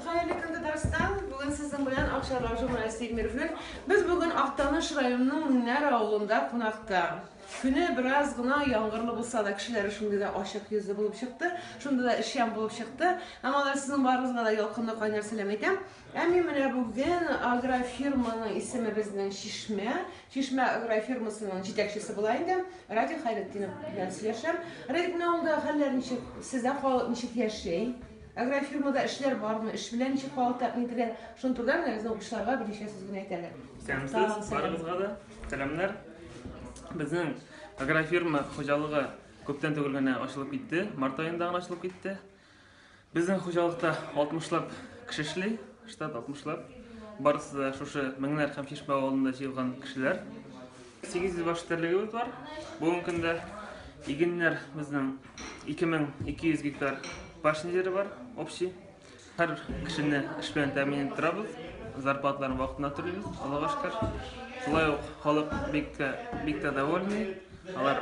Хәерле көн Татарстан. Бүген сезнең белән Акчарлак журналисты Эльмир Флек. Без бүген Актаныш районының Миннәр авылында кунакта. Көне бераз гына яңгырлы булса да, кешеләре шундый да ачык йөзле булып чыкты, шундый да эшчән булып чыкты. Һәм алар сезнең барыгызга да ялкынлы кайнар сәлам әйтәм. Ә мин менә бүген агрофирманың исеме безнең Чишмә. Чишмә агрофирмасының җитәкчесе була инде. Радик Хәйретдинов белән сөйләшәм. Радик, менә авылда хәлләр ничек? Сездә халык ничек яши? Агрофирмада эшләр бармы? Эш белән ничек халык тәэмин ителә? Шуны турыда генә безнең укучыларга берничә сүз генә әйтәле. Исәнмесез, барыгызга да сәламнәр. Безнең агрофирма хуҗалыгы күптән түгел генә ачылып китте. Март аенда гына ачылып китте. Безнең хуҗалыкта 60лап кеше эшли, штат 60лап. Барысы да шушы Меңнәр һәм Чишмә авылында җыелган кешеләр. 800 баш терлегебез бар. Бүгенге көндә игеннәр безнең 2200 гектар пашня җире бар, общий. Һәр кешене эш белән тәэмин итеп торабыз. Зарплаталарын вакытында түлибез, Аллага шөкер. Шулай ук халык бик тә бик тә довольный. Алар